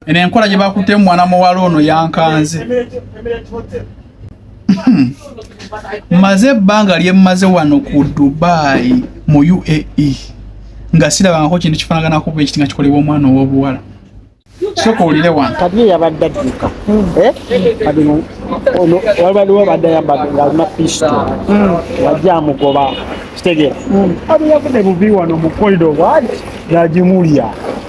eno enkola gye bakuttemu mwana muwala ono yankanze hmm. maze ebbanga lyemmaze wano ku dubai mu uae nga sirabangako kintu kifanaganaku bwe kiti nga kikolebwa omwana ow'obuwala soka olire wano kati ye yabadde adduka eh? kati ono waliwo abadde ayambadde ngaalina pisto hmm. wajja amugoba kitegeera hmm. abo yavudde bubi wano mu korido waali yagimulya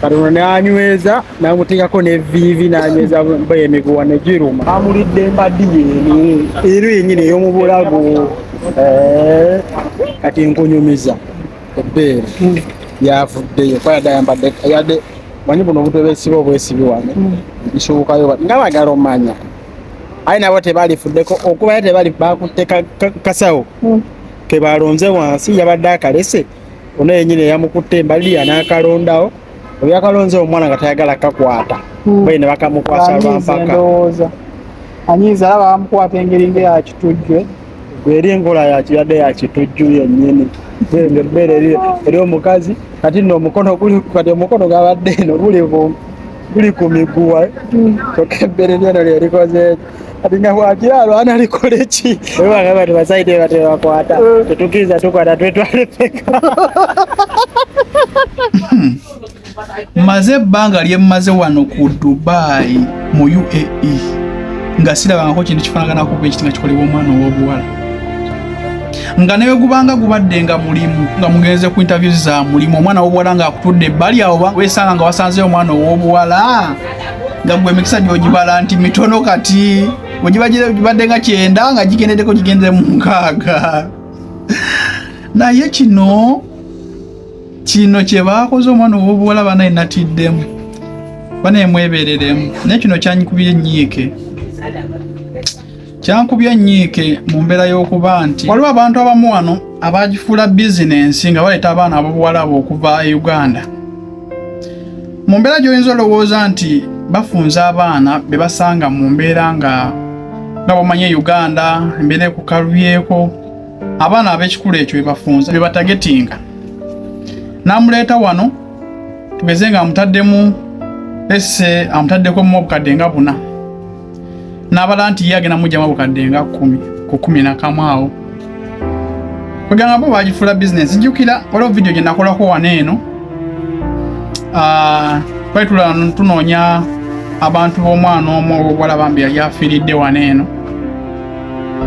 kati ono nanyweza namuteekako neviivi nanyweza emiguwa negiruma amulidde embaddi yeni ero yenyini eyomubulago eh, kati nkunyumiza ebbeere hmm. yavuddeyo kuba yadde ayambadde yadde manyi buno obutwe besiba obwesibi wano hmm. nkisobokayo nga bagala omanya aye nabo tebalifuddeko okubayo tebali bakutte kasawo hmm. kebalonze wansi yabadde akalese ono yenyini eyamukutte embaliya nakalondawo ebyakalonze omwana nga tayagala kakwata hmm. bayi ne bakamukwasa lwampaka anyiza alaba bamukwata engeri nga yakitujjwe eri enkola yakiyadde yakitujju yennyini ebbeere eri omukazi kati no omukono kati omukono gabadde eno guli ku miguwa hmm. kyokka ebbere lyeno lyerikozeeki Linakuatia lwana likole chi. Wewe akaba tubasaidie watu wakwata. Eh. Tutukiza tu kwa tatu wetu alipeka. Hmm. Maze banga lye maze wano ku Dubai mu UAE. Nga sira banga ko kintu kifanaka na kupe kitinga kikole wo mwana wo buwala. Nga nayo gubanga gubadde nga mulimu nga mugenze ku interviews za mulimu omwana wo buwala nga akutudde bali awo wesanga nga wasanze omwana wo buwala. nga gwe emikisa gyogibala nti mitono kati ogibadde nga kyenda nga gigendedeko gigendere mu nkaaga naye kino kino kyebakoze omwana owobuwala banaye natiddemu banaye mwebereremu naye kino kyanyikubye nyiike Kyankubye ennyiike mu mbeera y'okuba nti waliwo abantu abamu wano abaagifuula bizinensi nga baleeta abaana ab'obuwalabu okuva e Uganda. Mu mbeera gy'oyinza olowooza nti bafunza abaana be basanga mu mbeera nga nga bamanye Uganda embeera ekukalubyeko abaana ab'ekikulu ekyo be bafunza be batagetinga. N'amuleeta wano tugeze nga amutaddemu esse amutaddeko mu obukadde nga buna. n'abala nti ye agenda mujjamu bukadde nga kkumi ku kkumi nakamu awo kwegamba bo bagifuula bizinensi jjukira waliwo vidiyo gye nakolako wano eno ah, twali tulala tunoonya abantu b'omwana omu obuwala bambi yali afiiridde wano eno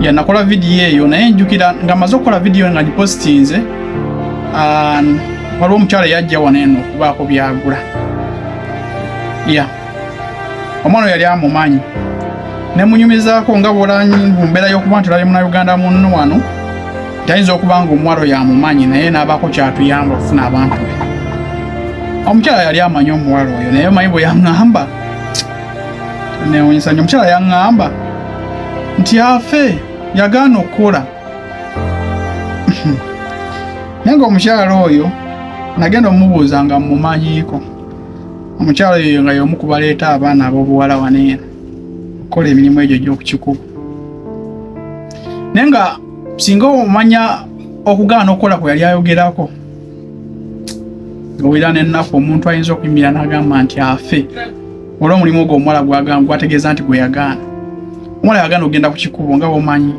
yanakola vidiyo eyo naye njukira nga maze okukola vidiyo nga ngipositinze ah, waliwo omukyala yajja wano eno okubaako byagula ya yeah. omwana yali amumanyi nemunyumizaako nga bwolanyi mu mbeera y'okuba nti olabye munauganda munno wano tayinza okuba nga omuwalo yamumanyi naye n'abaako kyatuyamba okufuna abantu be omukyala yali amanyi omuwalo oyo naye omanyi bwe yaŋŋamba newunyisa nyo omukyala yaŋŋamba nti afe yagaana okukola naye nga omukyala oyo nagenda omubuuza nga mmumanyiiko omukyala oyo nga y'omu ku baleeta abaana ab'obuwala wano eno okukola emirimu egyo gy'okukikuba naye nga singa omanya okugaana okukola kwe yali ayogerako owera n'ennaku omuntu ayinza okuyimira n'agamba nti afe olw'omulimu ogwo omuwala gwategeeza nti gwe yagaana omwana yagana ogenda ku kikubo nga womanyi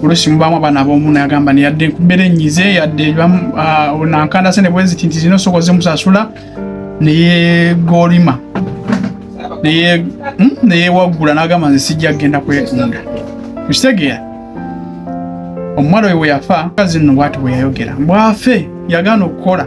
olusi mubamu abaana abomu nayagamba neyadde nkubera enyize yadde ah, nankanda sene bweziti nti zino osobola zimusasula neyegolima neyewaggula hmm, nagamba nze sijja kugenda kwetunda kitegeera omuwala oyo weyafa kazi nno bwati bweyayogera mbwafe yagaana okukola